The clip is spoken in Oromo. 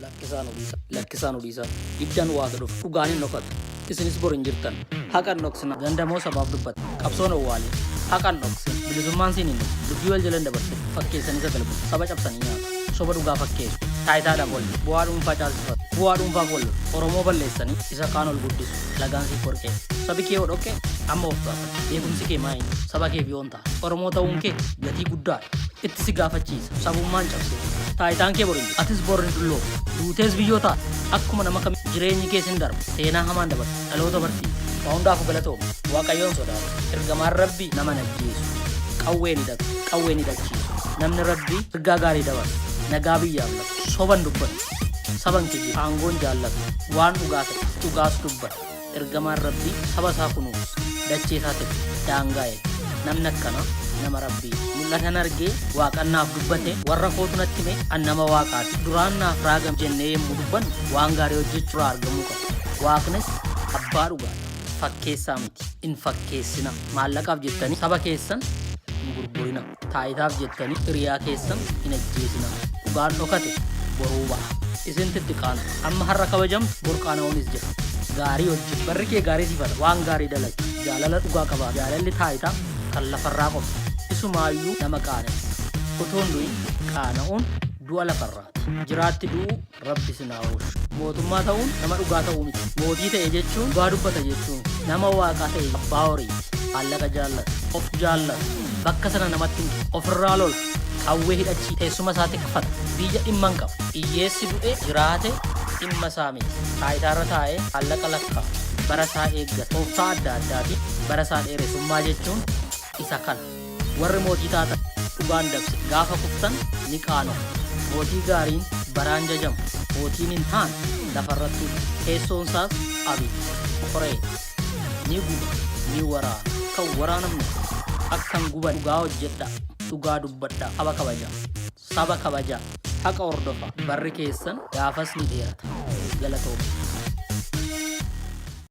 Lakkisaa nu dhiisaa. Lakkisaa nu dhiisaa. Ibdan waata dhufu. Dhugaan hin dhokatu. Isinis bor hin jirtan. Haqa hin dhoksina. Ganda moo sabaaf dubbata. Qabsoon owwaale. Haqa hin dhoksina. Bilisummaan siin hin dhufu. Dubbii wal jala hin dabarsina. Fakkeessanii sagal bulu. Saba cabsanii nyaatu. Soba dhugaa fakkeessu. Taayitaadhaaf wal lolu. Bu'aa dhuunfaa caalsifatu. Bu'aa dhuunfaaf wal lolu. Oromoo balleessanii isa kaan ol guddisu. Alagaan siif warqee. Sabi kee yoo dhoqqe amma of gaafadhu. Beekumsi kee maa inni? Saba keef yoo hin taane. Oromoo ta'uun kee gatii guddaadha. Itti si gaafachiisa. Sabummaan cabsee. Taayitaan kee bor hin jiru. Atis bor hin dullooftu. Duutees biyyoo taata. Akkuma nama kam jireenyi kees hin darba. Seenaa hamaan dabarsa. Dhaloota barsiisa. Waa hundaafuu galatooma. Waaqayyoon sodaadha. Ergamaan Rabbii nama hin ajjeesu. Qawwee ni hidhatu. Qawwee ni hidhachiisu. Namni Rabbii ergaa gaarii dabarsa. Nagaa biyyaaf lafa. Soban dubbatu. Saban kijjiba. Aangoon jaallatu. Waan dhugaa ta'e. Dhugaas dubbata. Ergamaan Rabbii saba isaa kunuunsa, dachee isaa tika, daangaa eega. Namni akkanaa nama Rabbiiti. Mul'atan argee Waaqan naaf dubbate, warra kootu natti hime, an nama Waaqaati. Duraan naaf raagame jennee yommuu dubbannu waan gaarii hojjechuurraa argamuu qaba. Waaqnis abbaa dhugaadha. Fakkeessaa miti. Hin fakkeessinaa. Maallaqaaf jettanii saba keessan hin gurgurinaa. Taayitaaf jettanii hiriyaa keessan hin ajjeesinaa. Dhugaan dhokate boruu ba'a. Isinti itti qaantu. Amma har'a kabajamtu bor qaana'uunis jira. Gaarii hojjetu. Barri kee gaarii siif haa ta'u. Waan gaarii dalagi. Jaalala dhugaa qabaadhu. Jaalalli taayitaa kan lafarraa qofa. Isumaayyuu nama qaanessa. Utuu hin du'in qaana'uun du'a lafarraati. Jiraatti du'uu Rabbi isin haa oolchu. Mootummaa ta'uun nama dhugaa ta'uu miti. Mootii ta'e jechuun dhugaa dubbata jechuun nama waaqaa ta'e abbaa horii maallaqa jaallatu of jaallatu bakka sana namatti hin kennu. ofirraa lola qawwee hidhachii teessuma isaa tikfata biyya dhimma hin qabu hiyyeessi du'e jiraate dhimma isaa miti taayitaarra taa'ee maallaqa lakkaa bara isaa eeggata tooftaa adda addaatiin bara isaa dheeresummaa jechuun isa kana. Warri mootii taatan dhugaan dabse gaafa kuftan ni qaanoftu. Mootii gaariin baraan jajama, mootiin hin taane lafa irrattuu jira. Teessoon isaas abidda, qoree, dha. Ni guba, ni waraana. Akka hin waraanamne, akka hin gubanne dhugaa hojjedhaa, dhugaa dubbadhaa, saba kabajaa. Saba kabajaa. Haqa hordofaa. Barri keessan gaafas ni dheerata. Galatoomaa.